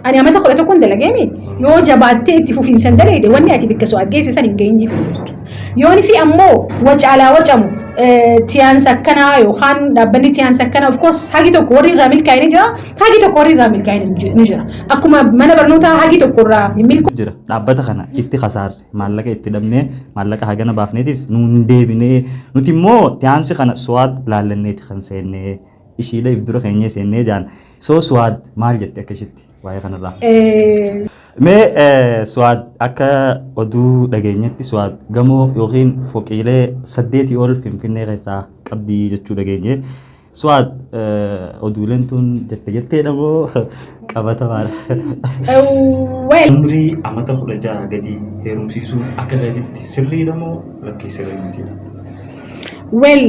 Ani amata kudha tokkon dalagee mi yoo jabaattee itti fufiinsan dalagde wanni ati bikka so'aat geesse san hin geenye jechuudha. Yoon fi ammoo wacaalaa wacamu tiyaansa akkanaa yookaan dhaabbanni tiyaansa akkanaa of course hagi tokko warri irraa milkaa'e ni jira hagi tokko warri irraa milkaa'e ni jira. Akkuma mana barnootaa hagi tokko irraa hin milkaa'e. jira dhaabbata kana itti kasaarre maallaqa itti dhabnee maallaqa hagana baafneetis nuun deebinee nuti immoo tiyaansi kana so'aat laallanneeti kan seennee ishiilee if dura keenyee seennee jaan. So Suwaad maal jette akka ishitti waa'ee kanarraa? Mee eh, Suwaad akka oduu dhageenyetti Suwaad gamoo yookiin foqiilee saddeetii ol Finfinnee keessaa qabdi jechuu dhageenye. Suwaad eh, oduuleen tun jette jetteedha moo qabatamaadha? Well, Umrii amata kudha jaha gadi heerumsiisuun akka gaditti sirriidha moo lakkii sirrii mitiidha? well.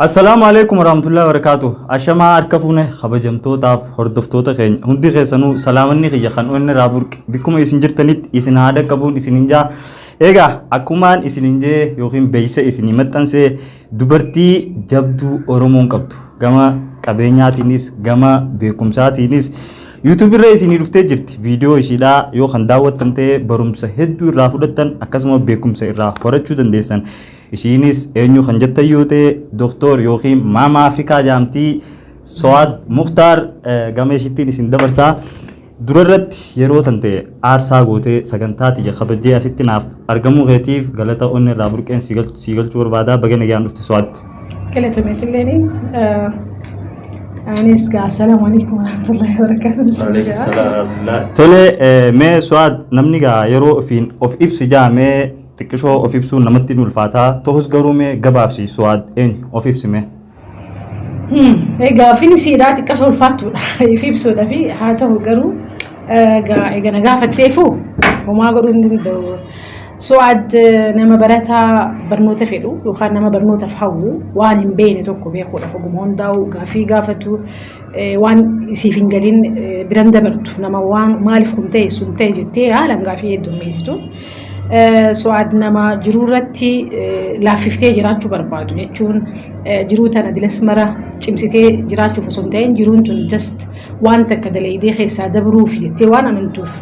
Assalaamu alaikum warahmatullahi wabarakatuh. Ashamaa harka fuune kabajamtootaaf hordoftoota keenya hundi keessanuu salaamanni kiyya kan onni irraa burqe bakkuma isin jirtanitti isin haadha qabuun isin hin jaa. Egaa akkumaan isin hin jee yookiin beeksisa isin maxxansee Dubartii jabduu Oromoon qabdu gama qabeenyaatiinis gama beekumsaatiinis YouTube irra isinii dhuftee jirti. Viidiyoo ishiidhaa yoo kan daawwattan ta'e barumsa hedduu irraa fudhattan akkasuma beekumsa irraa horachuu dandeessan. Ishiinis eenyu kan jettan yoo ta'e Doktor yookiin Maama Afrikaa jaamtii Sowaad Muktaar gama ishiittiin isin dabarsaa. Dura irratti yeroo tante aarsaa gootee sagantaa tiyya kabajjee asitti naaf argamuu keetiif galata onne irraa burqeen sii galchuu barbaada. Baga nagaan dhufte Suad. Galatomi atilleeni. Anis gaa assalaamu alaikum warahmatullahi wabarakatuh sin Waalaikum jedha. salaam warahmatullah. Tole eh, mee Suad namni gaa yeroo ofiin of ibsi jaa mee xiqqishoo of ibsuun namatti hin ulfaataa ta'us garuu mee gabaabsi Suad eenyu of ibsi mee. Gaaffiin isiidhaa xiqqas ulfaattuudha. Ifi ibsuudha fi haa ta'u garuu eegana gaafatteefu homaa godhuu hin danda'u. Su'aad nama barataa barnoota fedhu yookaan nama barnootaaf hawwu waan hin beekne tokko beekuudhaaf oguma hundaa'u gaaffii gaafatu waan siif hin galin biran dabartu nama waan maaliif kun ta'e sun ta'e jettee haalan gaafii heddummeessitu. Su'aad nama jiruu irratti laaffiftee jiraachuu barbaadu jechuun jiruu tana dilas mara cimsitee jiraachuuf osoo hin ta'in jiruun tun just waan takka dalaydee keessaa dabruuf jettee waan amantuuf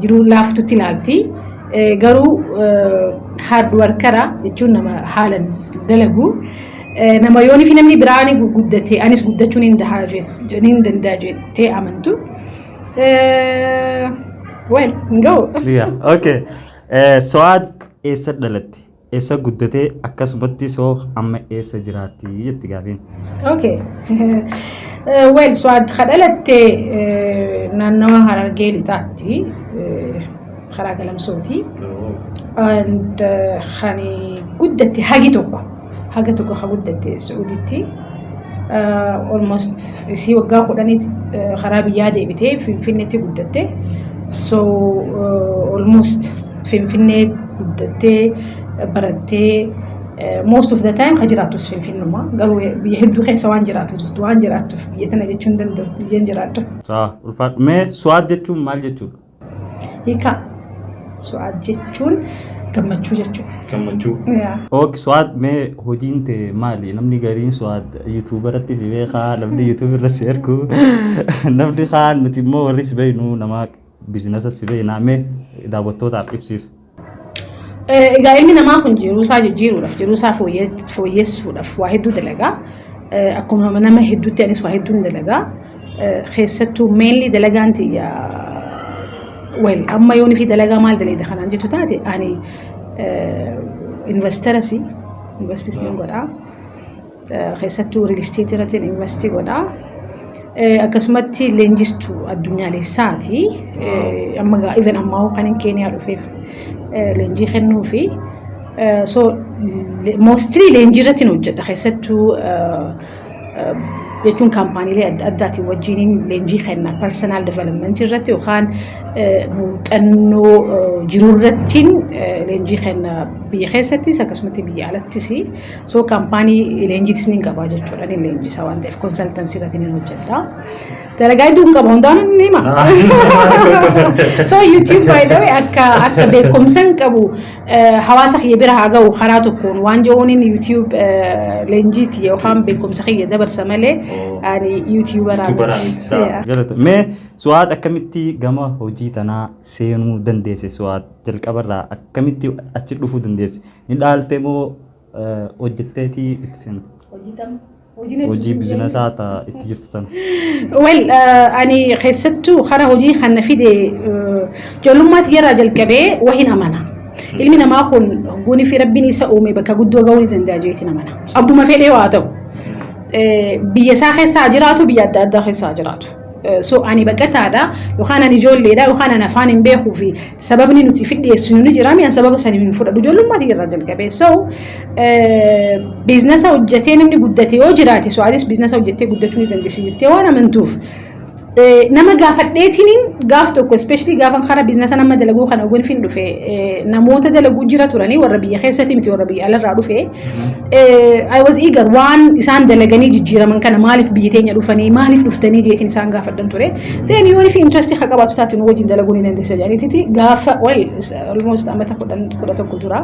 jiruu laaftutti ilaalti. Garuu hard workera jechuun nama haalan dalagu. Nama yoonii fi namni biraa ni guddatee anis guddachuu ni danda'a jettee amantu. Well, hin ga'u. Yeah, okay. Eh, So'aad eessa dhalatte? Eessa guddatee akkasumatti soo amma eessa jiraatti jetti gaafiin. Okay. Well, Suwaad ka dhalatte naannawa Harargee lixaatti. karaa galamsooti. And kan guddatte hagi tokko haga tokko ha guddatte Su'uditti almost isii waggaa kudhanii karaa biyyaa deebitee Finfinneetti guddatte. So almost Finfinnee guddattee barattee most of the time ka jiraattus Finfinnuma garuu biyya hedduu keessa waan jiraatu jirtu waan jiraattuuf biyya tana jechuun danda'u biyyan jiraadhu. Saa ulfaadhu. Mee su'aad jechuun maal jechuudha? Hiika su'aad jechuun gammachuu jechuudha. Gammachuu. Yaa. Ok Suad mee hojiin tee maali? Namni gariin Suad YouTube irratti si beekaa, namni YouTube irra si argu, namni kaan nuti immoo warri si beeknu nama bizinasa si beekna mee daawwattootaaf ibsiif. Egaa ilmi namaa kun jiruusaa jijjiiruudhaaf, jiruusaa fooyyessuudhaaf waa hedduu dalagaa. Akkuma nama hedduutti anis waa hedduun dalagaa. Keessattuu meenli dalagaan tiyya wal amma yoon fi dalagaa maal daleeda kanaan jettu taate ani investarasi investis nan godhaa. Keessattuu riil isteetii irratti investii godha. Akkasumatti leenjistuu addunyaaleessaati. Amma gaa even ammaa hoo kan hin Keeniyaa dhufeef leenjii kennuu fi so mostly leenjii irratti hin hojjedha. Keessattuu jechuun kaampaaniilee adda addaatiin wajjin leenjii kenna. Personal development irratti yookaan muuxannoo jiru irratti leenjii kenna biyya keessattis akkasumatti biyya alattis. So kaampaanii leenjiitis ni qaba jechuudha. Ni leenjisa waan ta'eef konsaltansii irratti ni hojjedha. Dalagaa hedduu hin qabu hundaan ni hima. So YouTube by the way akka akka beekumsa hin qabu eh, hawaasa kiyya bira haa ga'u karaa tokkoon waan jechuun YouTube eh, leenjiiti yookaan beekumsa kiyya dabarsa malee Oh. ani YouTuberaa YouTuberaa miti. miti, sawa. Yeah. Galata. Mee su'aat akkamitti gama hojii tanaa seenuu dandeesse su'aat jalqabarraa akkamitti achi dhufuu dandeesse? Ni dhaalte moo hojjetteeti itti seente? Hojii bizinesaa ta itti jirtu tana. Wel ani keessattuu kara hojii kan na fide ijoollummaa tiyyarraa jalqabee wahin amana. Ilmi namaa kun guunii fi rabbiin isa uume bakka guddoo gahuu ni danda'a jeetiin amana. Abbuma fedhee waa ta'u biyya isaa keessa haa jiraatu biyya adda addaa keessa haa jiraatu. So ani baqataadha yookaan ani ijoolleedha yookaan ani afaan hin beekuu fi sababni nuti fi dhiyeessinu ni jira mi'an sababa sanii hin fudhadhu ijoollummaatii irraa jalqabee so biiznasa hojjetee namni guddate yoo jiraate so atis biiznasa hojjettee guddachuu ni dandeessi jettee waan amantuuf nama gaafadheetiin gaaf tokko ispeeshilii gaafan karaa biiznasa nama dalaguu kana oguun fin dhufe namoota dalaguu jira turanii warra biyya keessatti miti warra biyya alarraa dhufe I was eager waan isaan dalaganii jijjiiraman kana maaliif biyya teenya dhufanii maaliif dhuftanii jeetiin isaan gaafadhan ture. Then yoon fi interest ka qabaatu taate nu wajjin dalaguu ni dandeessa jedhaniiti gaafa well almost amata kudha tokko dura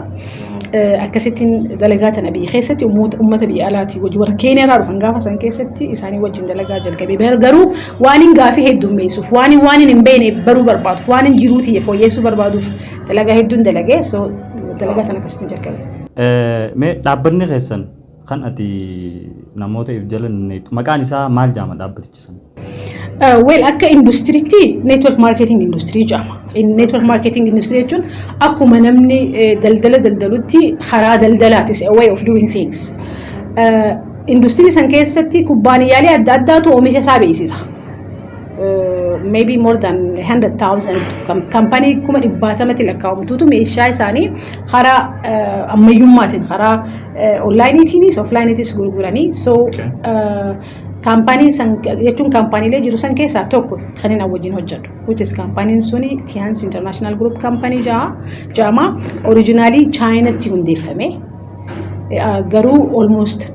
akkasittiin dalagaa tana biyya keessatti uummata biyya alaatii wajjin warra keenyaarraa dhufan gaafa san keessatti isaanii wajjin dalagaa jalqabe garuu waaniin gaafii heddummeessuuf waaniin waaniin hin beekne baruu barbaaduuf waaniin jiruu tiyya fooyyeessuu barbaaduuf dalagaa hedduun dalagee so dalagaa tana akkasittiin jalqabe. Mee dhaabbanni keessan kan ati namoota if jala neetu maqaan isaa maal jaama dhaabbatichi sana? Weel akka industiriitti network marketing industirii jedhama. Network marketing industirii jechuun akkuma namni daldala daldalutti karaa daldalaatis a way of doing things. Industirii san keessatti kubbaaniyyaalee adda addaatu oomisha isaa beeksisa. maybe more than 100,000 kampanii kuma dhibbaatamatti lakkaa'amtuutu meeshaa isaanii karaa ammayyummaatiin karaa onlaayiniitiinis oflaayiniitiis gurguranii so kaampaanii san jechuun kaampaaniilee jiru san keessaa tokko kan inni wajjin hojjetu which is kaampaaniin suni Tiyaans International Group Company ja'a jaama orijinaalii chaayinatti hundeeffame. Garuu almost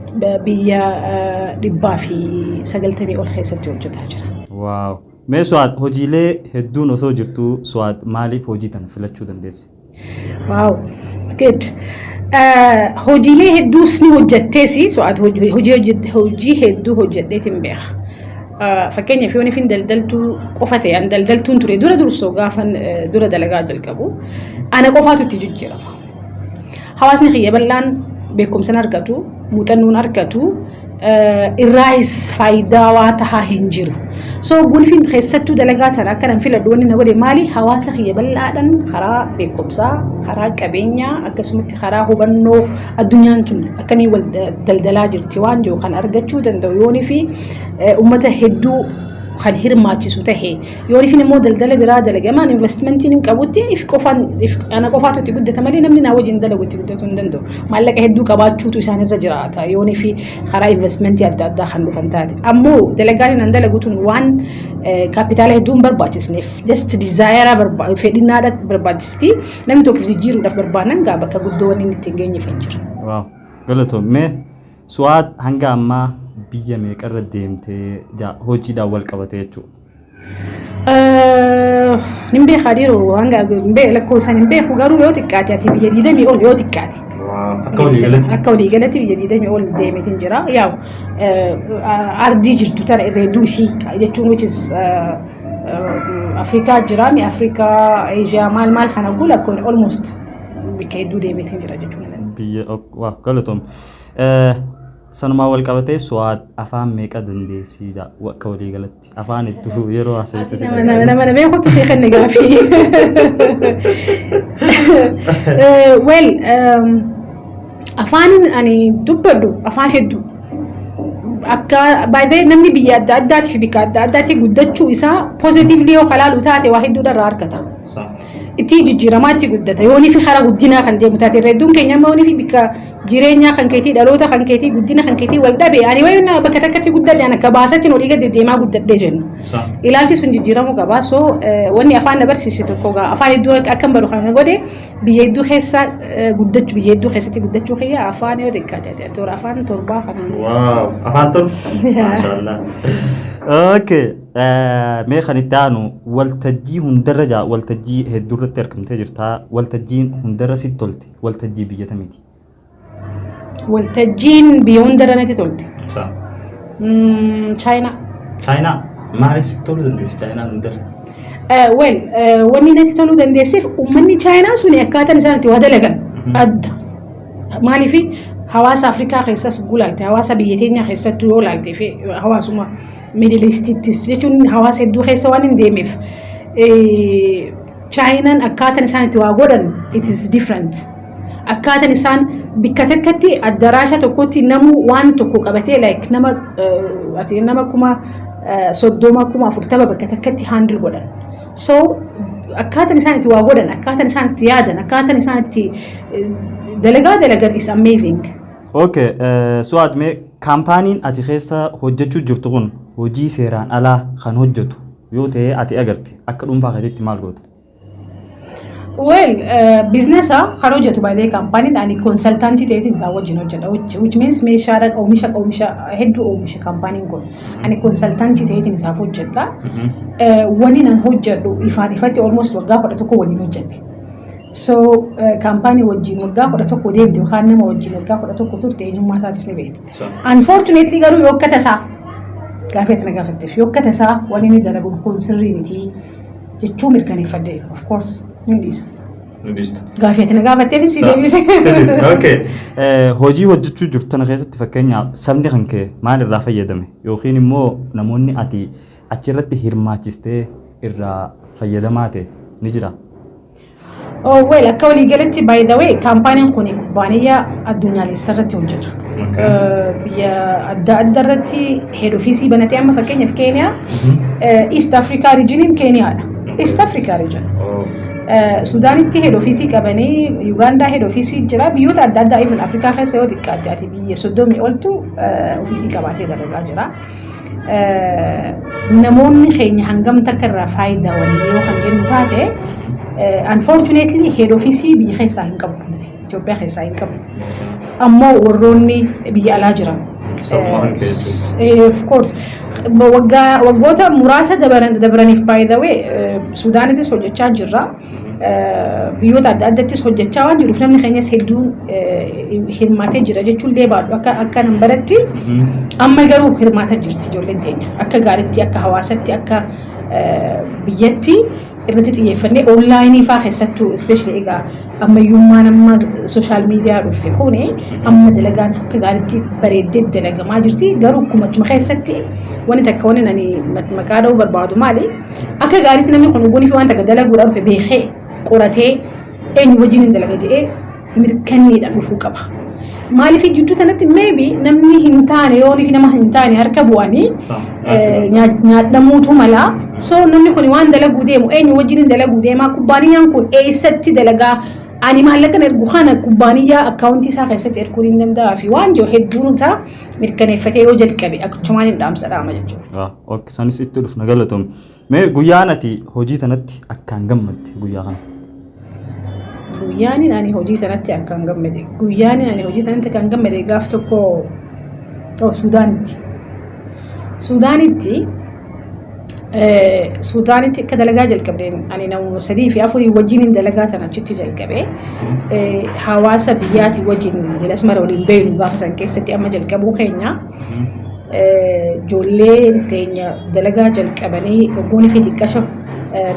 biyya dhibbaa fi sagaltamii ol keessatti hojjetaa jira. Wow! Mee Suad hojiilee hedduun osoo jirtuu Suad maaliif hojii tana filachuu dandeesse? Wow! Good. Hojiilee hedduus ni hojjetteesi. Suad hojii hedduu hojjedheetiin beeka. Fakkeenyaaf yoon ifin daldaltuu qofa ta'e an daldaltuun ture dura dursoo gaafan dura dalagaa jalqabu ana qofaatu itti jijjiirama. Hawaasni kiyya bal'aan beekumsan argatu, muuxannoon argatu, irraahis faayidaawaa tahaa hin jiru. So gulfiin keessattuu dalagaa tana akka nan filadhu wanni na godhe maali? Hawaasa kiyya bal'aadhaan karaa beekumsaa, karaa qabeenyaa akkasumatti karaa hubannoo addunyaan tun akkamii wal daldalaa jirti waan jiru kan argachuu danda'u yoonii fi uummata hedduu kan hirmaachisu tahe Yoo ifin immoo daldala biraa dalage amaan investmentiin hin qabutti if qofaan if ana qofaatu itti guddata malee namni naa wajjin dalagu itti guddatu hin danda'u. Maallaqa hedduu qabaachuutu isaan irra jiraata yoon fi karaa investmentii adda addaa kan dhufan taate. Ammoo dalagaan inni dalagu tun waan kaapitaala hedduu hin barbaachisneef just dizaayaraa barba fedhinaadha barbaachisti namni tokko if jijjiiruudhaaf barbaadan gaa bakka guddoo wanni inni ittiin geenyeef hin jiru. Waaw galatoom mee su'aad hanga ammaa biyya meeqarra deemtee hojiidhaan wal qabate jechuudha. Hin beekaa dhiiroo hanga hin beeku lakkoofsan hin beeku garuu yoo xiqqaate ati biyya diidamii ol yoo xiqqaate. Akka walii galatti. Akka walii galatti biyya diidamii ol deemeetiin jira. Yaa'u ardii jirtu tana irra hedduu isii jechuun which is Afrikaa jira mi Afrikaa Eeshiyaa maal maal kana gula kun almost bakka hedduu deemeetiin jira jechuudha. Biyya galatoomi. Sanumaan wal qabatee Su'aad afaan meeqa dandeessii jaa akka walii galatti afaan hedduu yeroo haasawwitu si Nama nama nama nama kottu sii kenne gaafii. Eh, Well, um, afaanin ani dubbadhu afaan hedduu. Akka baay'ee namni biyya adda addaatii fi bikka adda addaatii guddachuu isaa positively yoo kalaalu taate waa hedduudha irraa argata. Itti jijjiiramaa itti guddata. Yoonii fi karaa guddinaa kan deemu taate irra hedduun keenya amma yoonii fi bikka jireenyaa kan keetii dhaloota kan keetii guddina kan keetii wal dhabe ani wayi na bakka takkatti guddadhe ana akka baasatti olii gadi deemaa guddadhe jennu Sa. ilaalchi sun jijjiiramuu qaba so eh, wanni afaan na barsiise tokko gaa afaan hedduu akka- akkan baru kan na godhe biyya hedduu keessa eh, guddachuu biyya hedduu keessatti guddachuu kiyya afaan yoo xiqqaate ati toora afaan torbaa kanaan Waaw. Afaan tun. Maashaallah. Okay. eh, Mee kan itti aanu waltajjii hundarra jaa waltajjii hedduurratti argamtee jirta. Waltajjiin hundarra sitti tolte. Waltajjii biyyata miti. Waltajjiin biyya hundarra natti tolte. Sa. Mm, Chaayinaa. Chaayinaa. Maaliif si toluu dandeessi Chaayinaan hundarra? Eh, Well, eh, wanni natti toluu dandeesseef uummanni Chaayinaa suni akkaataan isaan itti waa dalagan adda. Maaliif hawaasa Afrikaa keessas guu laalte, hawaasa biyya keenya keessattuu yoo laalte fi hawaasuma Middle Eastittis jechuun hawaasa hedduu keessa waan hin deemeef eh, Chaayinan akkaatan isaan itti waa godhan it is different. Akkaatan isaan bikka takkatti addaraasha tokkotti namu waan tokko qabatee like nama ati nama kuma soddoma kuma afurtama bakka takkatti handle godhan. So akkaatan isaan itti waa godhan akkaatan isaan itti yaadan akkaatan isaan itti dalagaa dalagan is amazing. Okay, Su'aad mee kaampaaniin ati keessa hojjechuu jirtu kun hojii seeraan alaa kan hojjetu Yoo ta'ee ati agarte akka dhuunfaa keetitti maal goota? Well, uh, biznesa kan hojjetu by the company ani consultantii ta'eetiin isaan wajjin hojjedha. Which, which means meeshaadhaan oomisha oomisha hedduu oomisha kampaaniin kun. Ani consultantii ta'eetiin isaaf hojjedha. Eh, Wani nan hojjedhu ifaan ifatti almost waggaa kudha tokko waliin hojjedhe. So eh, kampaanii wajjin waggaa kudha tokko deemte yookaan nama wajjin waggaa kudha tokko turte eenyummaa isaatis ni beekta. Unfortunately garuu yoo akka tasaa gaafii ati na gaafatteef yoo akka tasaa waan inni dalagu kun sirrii miti jechuu mirkaneeffadhe of course ni dhiisa. Nudista. Gaafii ati na gaafatteef si deebise. Okay. Eh, Hojii hojjechuu jirtu tana keessatti fakkeenyaaf sabni kan kee maal irraa fayyadame yookiin immoo namoonni ati achirratti hirmaachistee irraa fayyadamaa ta'e ni jira. Oh, well, akka waliigalatti by the way kaampaaniin kun kubbaaniyyaa addunyaalessa irratti hojjetu. Okay. Eh, Biyya adda adda irratti head office banatee amma fakkeenyaaf Keeniyaa eh, East Africa regioniin Keeniyaadha. East Africa region. Oh. Eh, Sudaanitti head office qabanii Yugaandaa head office jira biyyoota adda addaa even Afrikaa keessa yoo xiqqaatte ati biyya soddomii oltu eh, office qabaatee dalagaa jira. namoonni keenya hangam takka irraa faayidaa walii yoo kan jennu taate unfortunately head office biyya keessaa hin qabu nuti Itoophiyaa keessaa hin qabu ammoo warroonni biyya alaa jiran Sabuma kan keessatti. Eh, of course waggaa waggoota muraasa dabaran- dabraniif by the way eh, sudaanitis hojjechaa jirra biyyoota adda addattis hojjechaa waan jiruuf namni keenyas hedduun hirmaatee jira jechuun illee baadhu akka akka nan baratti amma garuu hirmaata jirti ijoolleen teenya akka gaaritti akka hawaasatti akka biyyatti irratti xiyyeeffannee onlaayinii faa keessattuu ispeeshali egaa ammayyummaan amma sooshaal miidiyaa dhufe kun amma dalagaan akka gaaritti bareeddee dalagamaa jirti garuu akkuma keessatti wanti takka wanti ani maqaa dha'uu barbaadu maali Akka gaariitti namni kun hoggoonifi waan takka dalaguudhaa dhufe beekee qoratee eenyu wajjin hin dalaga jedhee mirkanneedhaan dhufuu qaba. Maaliif jidduu tanatti maybe namni hin taane yoonifi nama hin taane harka bu'anii nyaadhamuutu mala. So namni kun waan dalaguu deemu eenyu wajjin hin dalaguu deemaa kubbaaniyyaan kun eessatti dalagaa ani maallaqan ergu kana kubbaaniyyaa akkaawuntii isaa keessatti erguun hin danda'aa fi waan jiru hedduun isaa mirkaneeffatee yoo jalqabe akkachumaan hin dhaamsa dhaama jechuudha. Ok sanis itti dhufna galatomi. Mee guyyaan ati hojii tanatti akkaan gammadde guyyaa kana. Guyyaanin ani hojii tanatti akkaan gammade. Guyyaanin ani hojii tanatti akkaan gammade gaaf tokko oh, Suudaanitti. Suudaanitti Suudaanitti akka dalagaa jalqabdeen ani namoota sadii fi afurii wajjin hin dalagaa tan achitti jalqabe. Hawaasa biyyaatii wajjin Asmara waliin beeynu gaafa san keessatti amma jalqabuu keenya. ijoolleen teenya dalagaa jalqabanii ogguun fi xiqqasho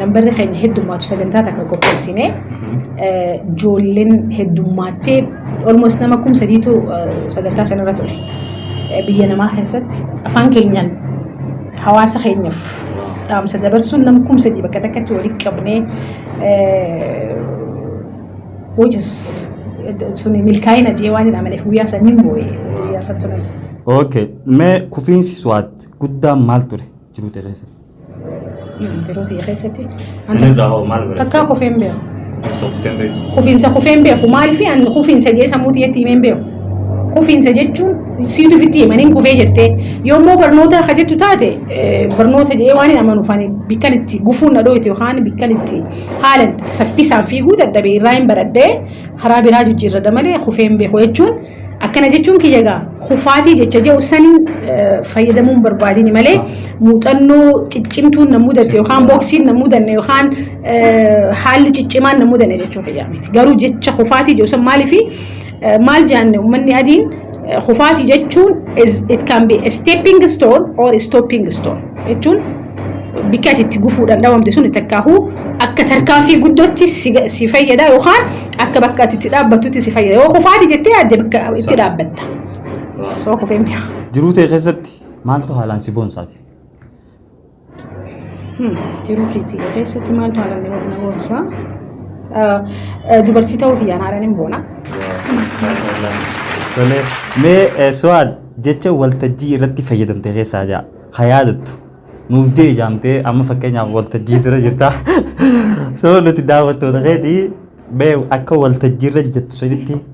nambarri keenya heddummaatu sagantaa takka qopheessine ijoolleen heddummaattee almost nama kum sadiitu sagantaa sanarra ture. Biyya namaa keessatti afaan keenyaan hawaasa keenyaaf dhaamsa dabarsuun nama kum sadii bakka takkatti walitti qabnee which is sun milkaa'ina jee waan hin amaneef guyyaa san hin boo'e guyyaa san tunan. Okay. Mee kufiinsi suwaat guddaan maal ture jiruu ta'e keessatti? Jiruu ta'e keessatti. Sinirraa hoo maal godhe? Takkaa kufee hin beeku. Kufiinsa kuftee hin beektu. Kufiinsa kufee hin beeku maaliif an kufiinsa jee sammuu xiyyeetti himee hin beeku. Kufiinsa jechuun siitu ofitti himaniin kufee jettee yommuu barnoota akka jettu taate barnoota jee waan hin amanuuf ani bikkan itti gufuun na dhooyte yookaan bikkan itti Haalan saffisaan fiiguu dadhabe irraa hin baradhe, karaa biraa jijjiirradha malee kufee hin beeku jechuun akkana jechuun kiyya egaa kufaatii jecha jedhu saniin fayyadamuu hin barbaadini malee muuxannoo ciccimtuun na mudatte yookaan booksiin na mudanne yookaan haalli ciccimaan na mudanne jechuu kiyyaa miti. Garuu jecha kufaatii jedhu san maaliifi Maal jaanne ummanni adiin kufaatii jechuun it can be a stepping stone or stopping stone jechuun bikka ati itti gufuudhaan dhabamte sun takkaahuu akka tarkaanfii guddootti si fayyada yookaan akka bakka ati itti dhaabbattutti si fayyada yoo kufaatii jettee yaadde bakka itti dhaabbatta. Soo kufee mi'a. Jiruu tee keessatti maaltu haalaan si boonsaati? Jiruu keetii keessatti maaltu haala nama na boonsaa? Dubartii ta'uu tiyyaan haala ni boona. Tolee, mee eh, Su'aad jecha waltajjii irratti fayyadamte keessaa ja'a. Ha yaadattu. Nuuf jee jaamtee amma fakkeenyaaf waltajjii dura jirta. Soo nuti daawwattoota keetii mee akka waltajjii irra jettu sanitti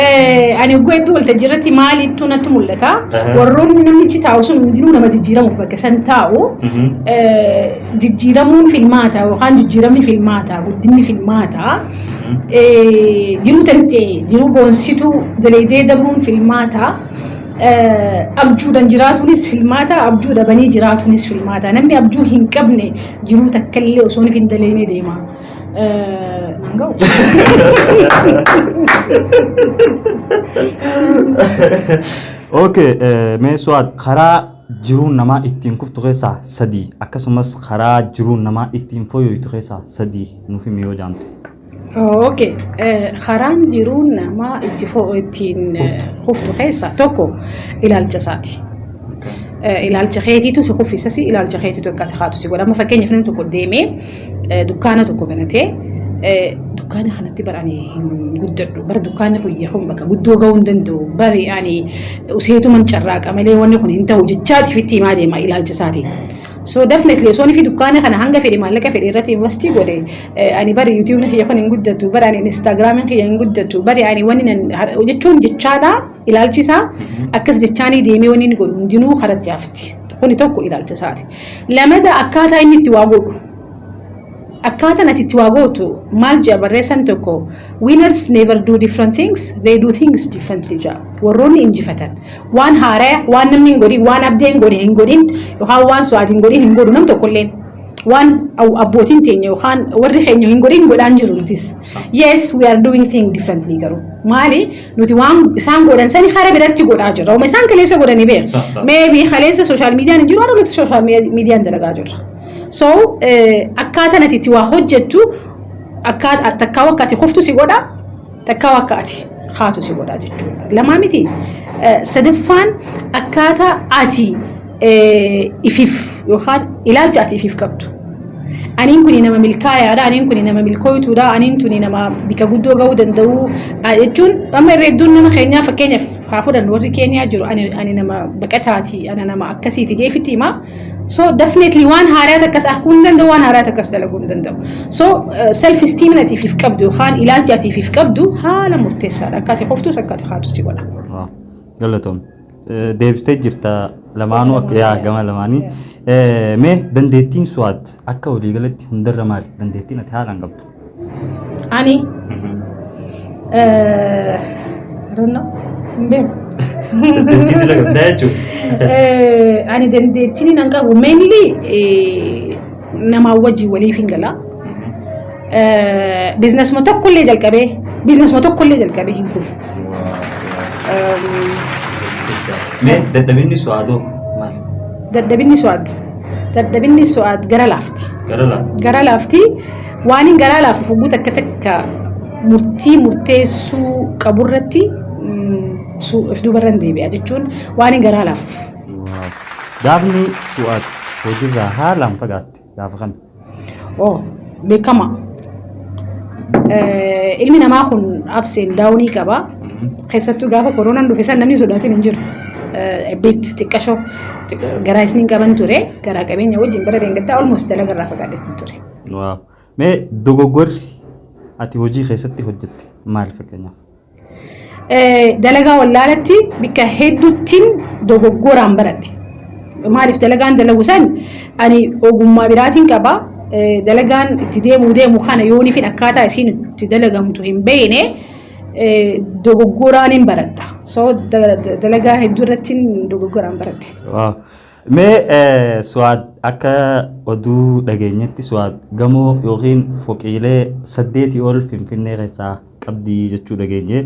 Eh, ani oguu hedduu waltajjii irratti maaliittuu natti mul'ata. Aha. Warroonni namichi taa'u sun hundinuu nama jijjiiramuuf bakka san taa'u. Mhm. Eh, Jijjiiramuun filmaata yookaan jijjiiramni filmaata guddinni filmaata. Mhm. Eh, Jiruu tantee jiruu boonsituu dalaydee dabruun filmaata. Eh, Abjuudhaan jiraatuunis filmaata abjuu dhabanii jiraatuunis filmaata. Namni abjuu hin qabne jiruu takkallee osoo hin dalaynee deema. Naan ga'u. Okay, eh, mee su'aad karaa jiruun namaa ittiin kuftu keessaa sadii akkasumas karaa jiruun namaa ittiin fooyyooytu keessaa sadii nuuf himi yoo jaamte. Ok, eh, karaan jiruu namaa itti fo- ittiin eh, kuftu keessaa tokko ilaalcha isaati. Eh, Ilaalcha keetiitu si kuffisasi, ilaalcha keetiitu akka ati kaatu si godha. Amma fakkeenyaaf namni tokko deemee dukkaana tokko banatee dukkaana kanatti bara ani hin guddadhu bara dukkaanni kun kun bakka guddoo ga'uu hin danda'u bari ani useetuman carraaqa malee wanni kun hin ta'u jechaatiif itti himaa deema ilaalcha isaatiin. So definitely osoo inni fi dukkaana kana hanga fedhe maallaqa fedhe irratti investi godhe ani bari yuutuubni kiyya kun hin guddatu bari ani instaagiraamiin kiyya hin guddatu bari ani wanni jechuun jechaadhaa Ilaalchi isaa akkas jechaanii deemee wanni inni godhu hundinuu karatti hafti. Kuni tokko ilaalcha isaati. Lamada akkaataa inni itti waa godhu. Akkaataan ati itti waa gootu maal jedha barreessan tokko winners never do different things they do things differently jedha. Warroonni injifatan waan haaraya waan namni hin godhin waan abdee hin godhin hin godhin yookaan waan su'aati hin godhin hin godhu nam tokkolleen. waan abbootiin teenya yookaan warri keenya hin godhin godhaan jiru nutis. Yes, we are doing things differently garuu. Maali? Nuti waan isaan godhan sani kara biratti godhaa jirra. Uma isaan kaleessa godhanii beera. Sa- sa- Meebii kaleessa sooshaal miidiyaan hin jiru har'a nuti sooshaal miidiyaan dalagaa jirra. So eh, akkaataa ati itti waa hojjettu akkaa- takkaa akka ati kuftu si godha takkaa akka ati kaatu si godha jechuudha. Lamaa miti. Eh, Sadaffaan akkaataa ati ifiif yookaan ilaalcha ati ifiif qabdu. Aniin kuni nama milkaayaadha, aniin kuni nama milkooytuudha, aniin tuni nama bika guddoo ga'uu danda'u jechuun amma irra hedduun nama keenyaa fakkeenyaaf haa fudhannu warri Keeniyaa jiru ani, ani nama baqataati, ana nama akkasiiti jeefitti hima. So definitely waan haaraa takkas arguu hin danda'u, waan haaraa takkas dalaguu hin danda'u. So self esteem ati ifiif qabdu yookaan ilaalcha ati ifiif qabdu haala murteessaadha. Akka ati qoftus akka ati kaatus si godha. Galatoom. deebistee jirta lamaanuu akka yaa gama lamaanii. Eh, Mee dandeettiin su'aat akka waliigalatti hundarra maali? Dandeettiin ati haalaan qabdu. Ani eh, I don't know. Hin beeku. Dandeettii dila qabdaa jechuudha. Eh, ani dandeettiin hin qabu mainly eh, namaa wajjin waliif hin gala. Biizinasuma tokkollee jalqabee biizinasuma tokkollee jalqabee hin kufu. Mee dadhabinni su'aatoo maal? Dadhabinni su'aat dadhabinni su'aat gara laafti. Gara lafa. Gara laafti waan hin garaa laafuuf hogguu takka takka murtii murteessuu qaburratti mm, su- of duubarra hin deebi'a jechuun waan hin garaa laafuuf. Wow. Gaafni Fu'aad hojiirraa haalaan fagaatte gaafa kami? Oh, beekama. Eh, Ilmi namaa kun abseen daawunii qaba. Keessattuu gaafa koronaan dhufe san namni sodaatiin hin jiru. Eh, Bit xiqqashoo xiq- garaa isniin qaban ture. Garaa qabeenya wajjin bara deengaggaa almost dalaga irraa fagaadheetti ture. Wow. Mee dogoggorri ati hojii keessatti hojjette maal fakkeenyaaf? Dalagaa wallaalatti bikka hedduuttiin dogoggoraan baradhe. Maaliif dalagaan dalagu san ani ogummaa biraatiin qaba. Dalagaan itti deemuu deemu kana yoonifin akkaataa isiin itti dalagamtu hin beekne dogoggoraan hin baradha. So dalagaa hedduu irrattiin dogoggoraan baradhe. Mee Suwaad akka oduu dhageenyetti Suwaad gamoo yookiin foqiilee saddeetii ol Finfinnee keessaa qabdi jechuu dhageenye.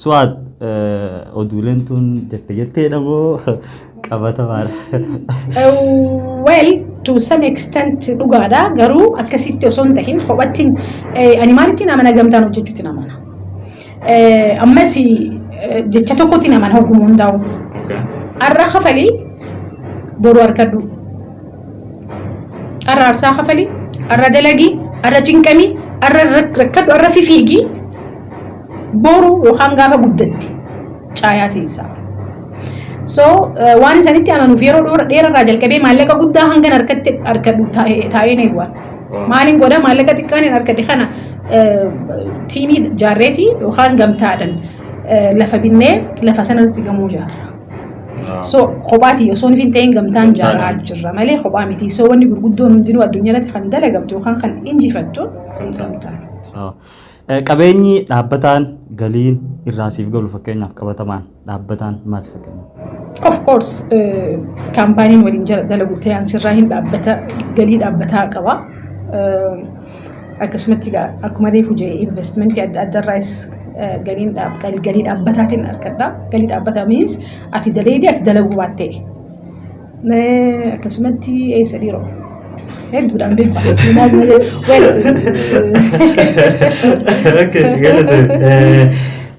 Su'aad oduuleen tun jette jetteedha moo qabatamaadha? Well, to some extent dhugaadha garuu akkasitti osoo hin tahin kophattiin ani maalittiin amana gamtaan hojjechuutti amana. Ammas jecha tokkotti amana hogguma hundaa'u. Har'a kafalii boru harkadhu. Arra arsaa kafali, arra dalagi, arra cinqami, arra rakkadhu, arra fifiigi. Boru yookaan gaafa guddatte caayaa teessaa. So waan isanitti amanuuf yeroo dheerarraa jalqabee maallaqa guddaa hangan harkatti harkadhu taa'een eegwa. Maaliin godha maallaqa xiqqaan hin harkadhe kana tiimii jaarreetii yookaan gamtaadhaan lafa binnee lafa sanarratti gamoo jaarra. So kophaati osoo hin ta'in gamtaan jaaraa jirra malee kophaa miti. So wanni gurguddoon hundinuu addunyaa irratti kan dalagamtu yookaan kan injifattu gamtaan. Qabeenyi dhaabbataan galiin irraa siif galu fakkeenyaaf qabatamaan dhaabbataan maal fakkeenyaaf? Of course kaampaaniin waliin jala dalagu ta'an sirraa hin dhaabbata galii dhaabbataa qaba. Akkasumatti egaa akkuma reefu jedhe investmentii adda addaa irraas galiin galii dhaabbataatiin argadha. Galii dhaabbataa miins ati daleedii ati dalaguu baattee. Akkasumatti eessa dhiiroo? Hedduudhaan beeku.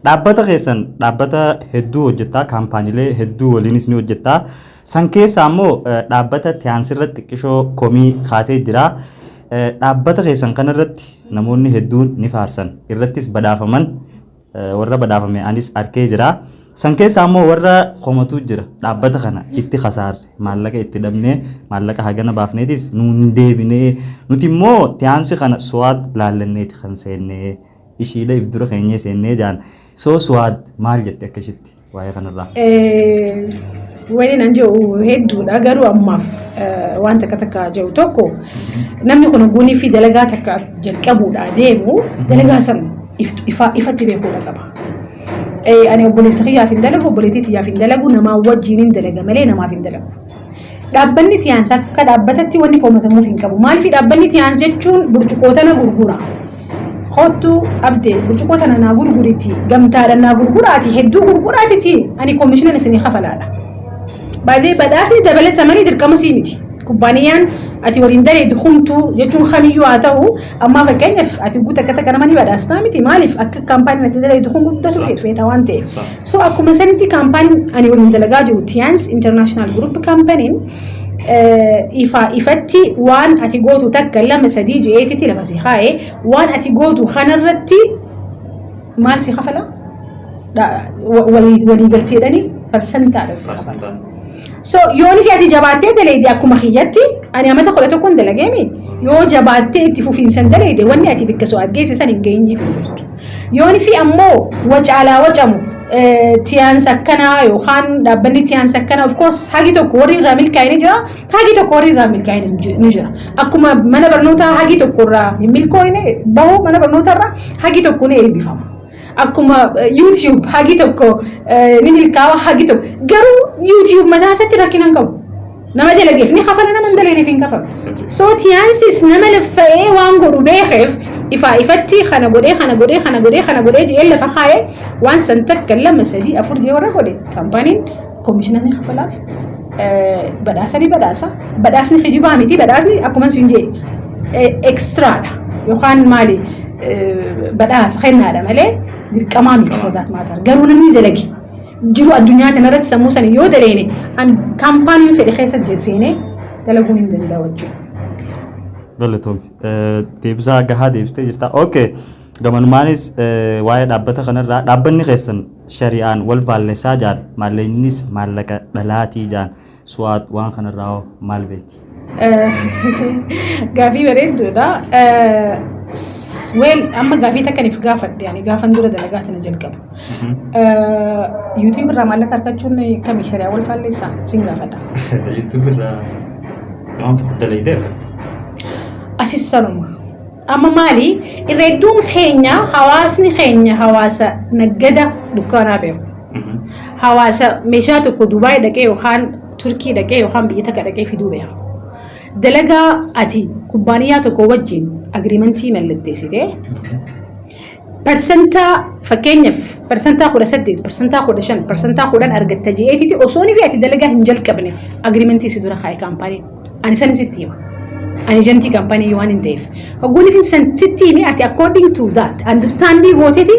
Dhaabbata keessan dhaabbata hedduu hojjettaa kaampaaniilee hedduu waliinis ni hojjettaa. San keessaa immoo dhaabbata tiyaansirratti xiqqishoo komii kaatee jira. Dhaabbata keessan kana irratti namoonni hedduun ni faarsan, irrattis badhaafaman, warra badhaafame anis arkee jira. San keessaa immoo warra komatuu jira, dhaabbata kana itti kasaarre, maallaqa itti dhabnee, maallaqa hagana baafneetis nuun hin deebine, nuti immoo tiyaansi kana Suwaad laallanneeti kan seenne, ishiidha if dura keenyee seenne jedhan. So Suwaad maal jetti akka ishitti? waa'ee kanarraa? Waliin an jedhu hedduudha garuu ammaaf waan takka takka jedhu tokko namni kun guunii fi dalagaa takka jalqabuudha deemu dalagaa san ifatti beekuudha qaba. Ani obboleessa kiyyaaf hin dalagu obboleettii tiyyaaf hin dalagu namaa wajjin hin dalaga malee namaaf hin dalagu. Dhaabbanni Tiyaans akka dhaabbatatti wanni komatamuuf hin qabu. Maaliif dhaabbanni Tiyaans jechuun burcuqoo tana gurgura. Kottu abdee burcuqoo tana naa gurguriti gamtaadhaan naa gurguraati hedduu gurguraatiti ani koomishinan isinii kafalaadha. Baadee badhaasni dabalatamanii dirqama sii miti. Kubbaaniyaan ati waliin daleedu humtuu jechuun kamiyyuu haa ta'u Ammaa fakkeenyaaf ati guuta akka takka nama ni badhaastaa miti maaliif akka kaampaaniin ati dalagdu kun guddatu Sawa. feeta waan ta'eef. Sawa. So akkuma sanitti kaampaaniin ani waliin dalagaa jiru Tiyaans International Group kaampaniin ifaa ifatti waan ati gootu takka lama sadii je'eetitti lafa si kaa'e waan ati gootu kanarratti maal si kafala? Dha- wa- walii- Waliigalteedhani parsantaadha si kafala. Parsantaan. So yoonii fi ati jabaattee daleeyde akkuma kiyyatti ani amata kudha tokkoon dalageemi yoo jabaattee itti fufiinsan daleeyde wanni ati bikka so'aat geesse san hin geenye. Yoonii fi ammoo wacaalaa wacamu tiyaan sakkanaa yookaan dhaabbanni tiyaan sakkanaa of course hagi tokko warri irraa milkaa'ee ni jira hagi tokko warri irraa milkaa'ee ni jira akkuma mana barnootaa hagi tokko irraa hin milkooyne bahu mana barnootaa irraa hagi tokko ni eebbifama. akkuma YouTube hagi tokko ni milkaawa hagi tokko garuu YouTube mataa isaatti rakkina hin qabu. Nama dalageef ni kafala nama hin daleeneef hin kafalu. So tiyaansis nama laffa'ee waan godhu beekeef ifaa ifatti kana godhee kana godhee kana godhee kana godhee jedhee lafa kaa'ee waan san takka lama sadii afur jee warra godhe kaampaaniin Komishinarri kafalaa badhaasa ni badhaasa. Badhaasni kijibaa miti. Badhaasni akkuma isin jedhe ekstiraadha yookaan maali badhaasa kennaadha malee dirqamaa miti foodaat maatar. Garuu namni dalage jiru addunyaa kanarratti sammuu sana yoo daleene kaampaaniin fedhe keessa seenee dalaguun hin danda'u jechuudha. Galatoom. Deebisaa gahaa deebistee jirta. Okay. Gamanumaanis waa'ee dhaabbata kanarraa dhaabbanni keessan shari'aan wal faallessaa jaan maallaqnis maallaqa dhalaatii jaan su'aad waan kanarraa hoo maal beekti? Gaafii bareedduudha. Weel amma gaafii takka nuuf gaafadhe ani gaafan dura dalagaa tana jalqabu. Yuutuubii irraa maallaqa argachuun kami shari'aa wal faallessaa sin gaafadha. Yuutuubii irraa waan dalaydee argatta. Asis sanuma. Amma maali irra hedduun keenya hawaasni keenya hawaasa naggada dukkaanaa beeku. Hawaasa meeshaa tokko Dubaay dhaqee yookaan Turkii dhaqee yookaan biyya takka dhaqee fiduu beeku. Dalagaa ati kubbaaniyaa tokko wajjin agiriimantii mallatteessitee Parsantaa fakkeenyaf parsantaa 18, parsantaa 15, parsantaa 10 argatta je'eetiti osooni fi ati dalagaa hin jalqabne agreementii si dura kaa'e kaampaaniin. Ani sani sitti hima. Ani ejantii kaampaanii waanin ta'eef. Hogguun isin san sitti hime ati according to that understandii gooteti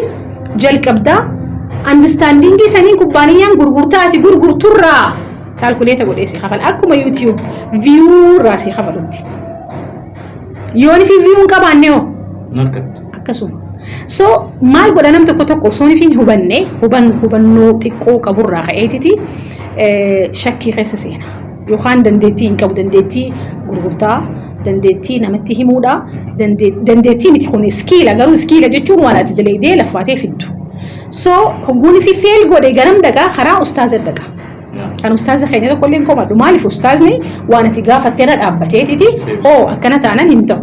jalqabdaa understandingii saniin kubbaaniyyaan gurgurtaa ati gurgurturraa kaalkuleeta godhee si kafala. Akkuma YouTube view irraa si kafalutti. Yoon fi viyuu hin qabaanne hoo? Hin argattu. Akkasuma. So maal godha nam tokko tokko osoo hin hubanne huban hubannoo xiqqoo qaburraa ka'eetiti shakkii keessa seena. Yookaan dandeettii hin qabu dandeettii gurgurtaa dandeettii namatti himuudha dandeettii miti kun iskiila garuu iskiila jechuun waan ati dalaydee laffaatee fiddu. So hogguun fi feel godhe garam dhaqa karaa ustaaza dhaqa. Kan ustaaza keenya tokko illee hin komadhu. Maaliif ustaazni waan ati gaafattee irra dhaabbateetiti oo akkana taanan hin ta'u.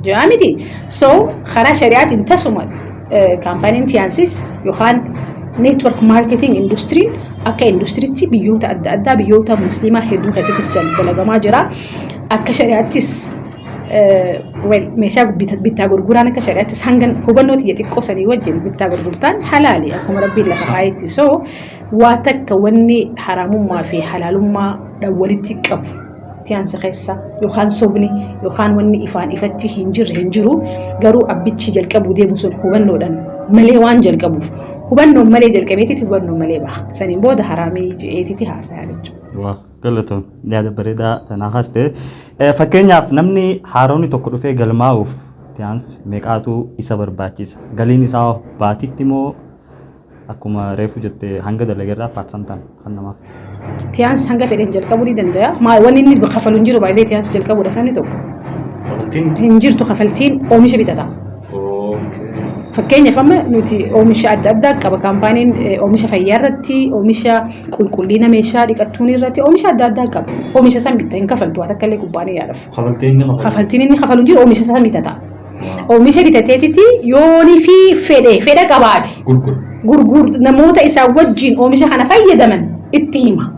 Ja'a miti. So karaa shari'aatiin tasuma eh, kaampaaniin tiyaansis yookaan network marketing industry akka industiriitti biyyoota adda addaa biyyoota musliimaa hedduu keessattis jal- dalagamaa jira. Akka shari'aattis eh, well, meeshaa bita- bittaa gurguraan akka shari'aattis hanga hubannoo tiyya xiqqoo sanii wajjin bittaa gurgurtaan halaali akkuma rabbiin lafa kaa'etti. So Waa takka wanni haraamummaa fi halaalummaa dha walitti qabu tiyaansa keessa yookaan sobni yookaan wanni ifaan ifatti hin jirre hin jiru garuu abbichi jalqabuu deemu sun hubannoodhan malee waan jalqabuuf hubannoon malee jalqabeetiti hubannoon malee baha saniin booda haraamii je'eetiti haasayaa jechuudha. Waa galatoom yaada bareedaa tanaa haaste fakkeenyaaf namni haaroonni tokko dhufee galmaa'uuf tiyaansi meeqaatu isa barbaachisa galiin isaa baatitti moo akkuma reefu jette hanga dalagerraa paarsantaan kan namaaf. Tiyaans hanga fedhen jalqabuu ni dandaya. Maa wanni inni kafalu hin jiru baay'ee tiyaans jalqabuudhaaf namni tokko. Kafaltiin. Hin jirtu kafaltiin oomisha bitata. Fakkeenyaaf amma nuti oomisha adda addaa qaba kaampaaniin oomisha fayyaa irratti, oomisha qulqullina meeshaa dhiqattuun irratti, oomisha adda addaa qaba. Oomisha san bitta hin kafaltu waa takka illee kubbaaniyaadhaaf. Kafaltiin inni kafalu. Kafaltiin inni kafalu hin jiru oomisha san bitata. Oomisha bitateetitti yoonii fi fedhe fedha qabaate gurgur namoota isaa wajjiin oomisha kana fayyadaman itti hima.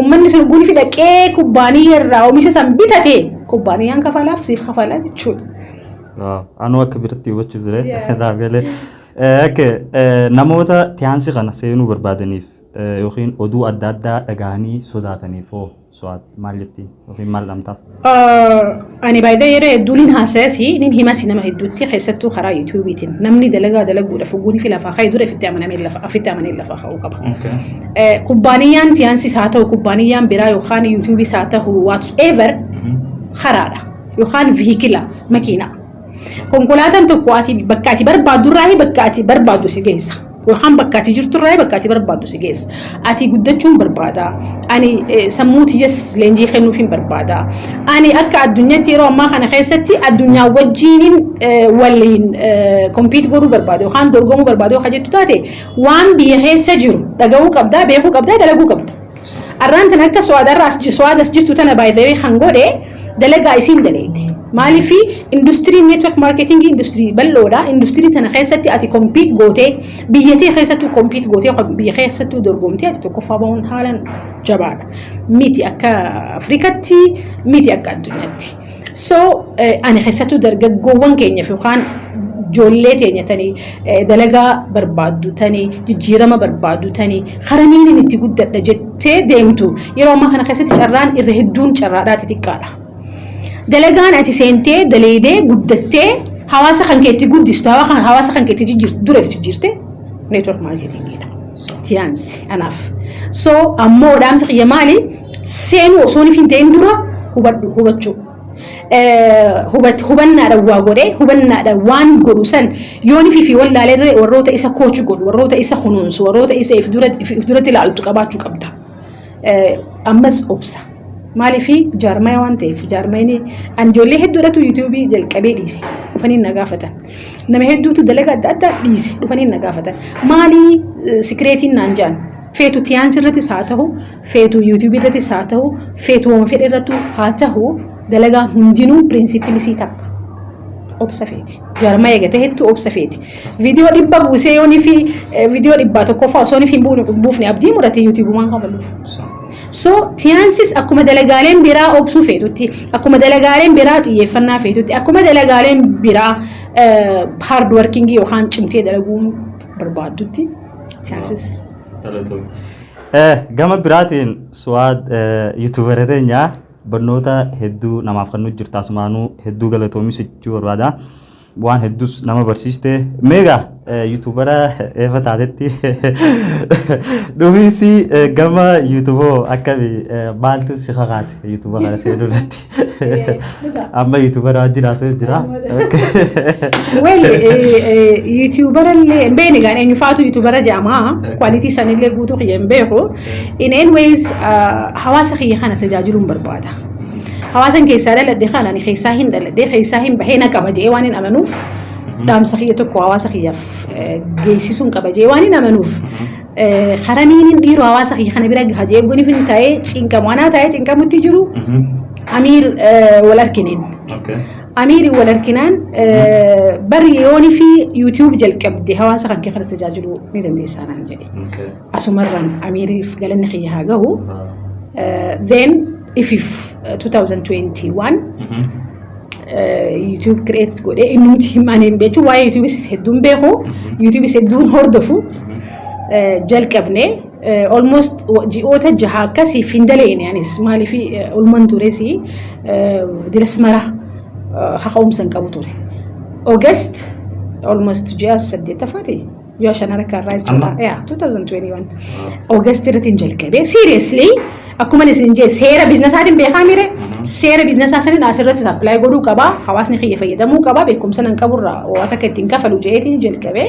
Ummanni sun guni fi dhaqee kubbaaniyya irraa oomisha san bitate kubbaaniyyaan kafalaaf siif kafala jechuudha. Waaw, anuu akka biratti hubachuu ture naaf galee. Eh, Okay, eh, namoota tiyaansi kana seenuu barbaadaniif eh, yookiin oduu adda addaa dhagahanii sodaataniif hoo? Suwaad maal jetti? Yookiin maal dhamtaaf? Ani baay'ee yeroo hedduu nin haasayasi, nin himasi nama hedduutti keessattuu karaa yuutuubiitiin. Namni dalagaa dalaguudhaaf hogguun fi lafaa ka'e dura ifitti amanamee lafa afitti amanee lafaa ka'uu qaba. Eh, Kubbaaniyyaan tiyaansis haa ta'u, kubbaaniyyaan biraa yookaan yuutuubis haa ta'u, whatsoever karaadha yookaan vihikila makiinaa. Konkolaataan tokko ati bakka ati barbaaddu irraa bakka ati barbaaddu si geessa. Yookaan bakka ati jirtu irraa bakka ati barbaaddu si geessa. Ati guddachuun barbaada. Ani sammuu tiyyas leenjii kennuufiin barbaada. Ani akka addunyaatti yeroo ammaa kana keessatti addunyaa wajjiinin waliin kompiit godhuu barbaada yookaan dorgomuu barbaada yoo jettu taate waan biyya keessa jiru dhagahuu qabdaa, beekuu qabdaa, dalaguu qabda. Arraan tana akka Su'aad arra as Su'aad as jirtu tana by the way kan godhe dalagaa isiin daleyde. Maaliif industirii network marketing industirii bal'oodha. Industirii tana keessatti ati compete gootee biyya tee keessattuu compete gootee biyya keessattuu dorgomtee ati tokkoffaa bahuun haalan jabaadha. Miti akka Afrikatti miti akka addunyaatti. So ani keessattuu dargaggoowwan keenyaaf yookaan ijoollee teenya tani dalagaa barbaaddu tani jijjiirama barbaaddu tani karamiin itti guddadha jettee deemtu yeroo ammaa kana keessatti carraan irra hedduun carraadhaa xixiqqaadha. Dalagaan ati seentee daleedee guddattee hawaasa kan keetti guddistu hawaasa kan keetti jijjiirtu dureef jijjiirte neetwork maarkeetingiidha. Tiyaansi anaaf. So ammoo dhaamsa kiyya maali? seenuu osoon hin ta'in dura hubadhu hubachuu hubannaadhaan waa godhee hubannaadhaan waan godhu san yoon fi fi wallaalee warroota isa koochu godhu warroota isa kunuunsu warroota isa if duratti ilaaltu qabaachuu qabda. Ammas obsa. Maaliif jaarmaya waan ta'eef jaarmayni an ijoollee hedduudhatu yuutuubii jalqabee dhiise dhufanii na gaafatan. Nama hedduutu dalaga adda addaa dhiise dhufanii na gaafatan. Maalii sikireetiin naan jaan feetu tiyaan sirrattis haa ta'u feetu YouTube irrattis haa ta'u feetu waan fedhe irrattu haa tahu dalagaan hundinuu pirinsipilii isii takka obsa feeti. Jaarmaa eegate hedduu obsa feeti. Viidiyoo dhibba buusee yoonii fi viidiyoo dhibbaa tokkoffaa osoo hin buufne abdii murate YouTube waan kabaluuf. So tiyaansis akkuma dalagaaleen biraa obsuu feetutti akkuma dalagaaleen biraa xiyyeeffannaa feetutti akkuma dalagaaleen biraa hard working yookaan cimtee dalaguun barbaaddutti tiyaansis. Galatoomii. Gama biraatiin Suwaad yuutuubara teenya barnoota hedduu namaaf kennuu jirta asumaanuu hedduu galatoomi si jechuu barbaada. Waan hedduus nama barsiiste. Meegaa yuutuubara eefa taatetti dhufiinsi gama yuutuuboo akkami maaltu si kakaase yuutuuba kana seenuu irratti? Amma yuutuubara wajjin haasa'u jira. Weli yuutuubara illee hin beekne egaa eenyufaatu yuutuubara jedhama. Kwaalitii san illee guutuu kiyya hin beeku. In any ways hawaasa kiyya kana tajaajiluun barbaada. Hawaasan keessaa dhaladhe kana ani keessaa hin dhaladhe keessaa hin bahee na qaba jedhee waan hin amanuuf dhaamsa kiyya tokko hawaasa kiyyaaf geessisuun qaba jedhee waan hin amanuuf Karaniin dhiiroo hawaasa kiyya kana bira gaha jee eeggoon ifin taa'ee cinqamu. Anaa taa'ee cinqamutti jiru Amiir wal arkineen. Amiiri wal arkinaan bari yooni fi YouTube jalqabde hawaasa kan kee kana tajaajiluu ni dandeessaa naan jedhe. Asumarraan Amiiriif galanni kiyya haa gahu. Then ifif 2021 YouTube create godhee inni nuti himaaniin jechuun waa'ee YouTubeis hedduun beeku YouTubeis hedduun hordofu jalqabne almost ji'oota jaha akkasii fi hin daleene anis maaliif ulman tures diras mara kaka'umsa hin qabu ture. August almost ji'a saddeettaffaati. ji'a shan harka irraa jechuudha. Amma? Yeah, 2021. August irratti hin jalqabee. Seriously, akkuma isin jee seera biiznasaatiin beekaa mire seera biizinasaa sanin asirratti apply godhuu qaba. Hawaasni kiyya fayyadamuu qaba. Beekumsa nan qaburra waan akka ittiin kafalu jeetiin jalqabee.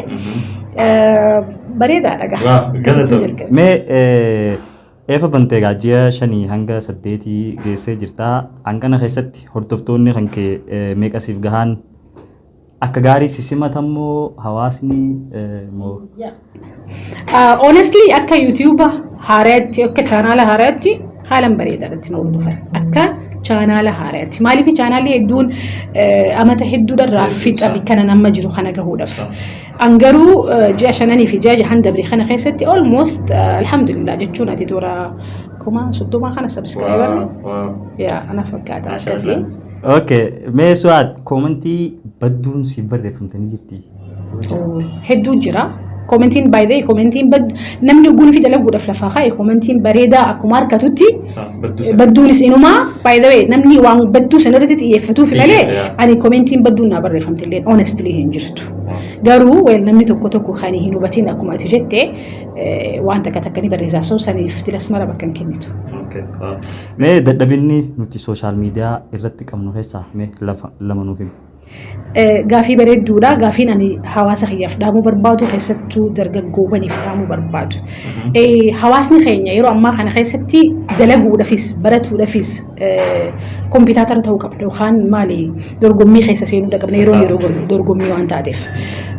Eh, Bareedaadha gaa. Waa, Akkasitti galatoomi. jalqabe. Mee eh, eefa bantee egaa ji'a shanii hanga saddeetii geessee jirta. Hangana keessatti hordoftoonni kan kee eh, meeqa siif gahaan Akka gaarii si simatan moo hawaasni moo? Honestly akka YouTube haaraatti akka chaanaala haaraatti haalan bareedaadha ittiin hordofan. Akka chaanaala haaraatti. Maaliif chaanaalli hedduun amata hedduudharraa fixa kanan amma jiru kana gahuudhaaf. An garuu ji'a shananii fi ji'a jahan dabre kana keessatti almost alhamdulillah jechuun ati toora kuma soddoma kana subscriber yaa ana fakkaata akkasii. Okay, mee su'aad koomentii badduun siif barreeffamte ni jirti. hedduu jira. Komentiin by the way, komentiin bad- namni oguu nufi dalaguudhaaf lafaa kaa'e komentiin bareedaa akkuma harkatutti badduunis inumaa by the way namni waan badduu sana irratti xiyyeeffatuuf malee Xiyyeeffata. ani komentiin badduun naa barreeffamte illee honestly hin jirtu. Garuu weel namni tokko tokko kan hin hubatiin akkuma ati jette eh, waan takka takka ni barreessaa so saniif tilas mara bakka hin kennitu. Mee dadhabinni nuti social media irratti qabnu keessaa mee lafa lama nuuf himi. Gaafii bareedduudha. Gaafiin ani hawaasa kiyyaaf dhaamuu barbaadu keessattuu dargaggoowwaniif dhaamuu barbaadu. Hawaasni keenya yeroo ammaa kana keessatti dalaguudhafis baratuudhafis kompiitaatara ta'uu qabna yookaan maali dorgommii keessa seenuu qabna yeroo yeroo dorgommii waan taateef.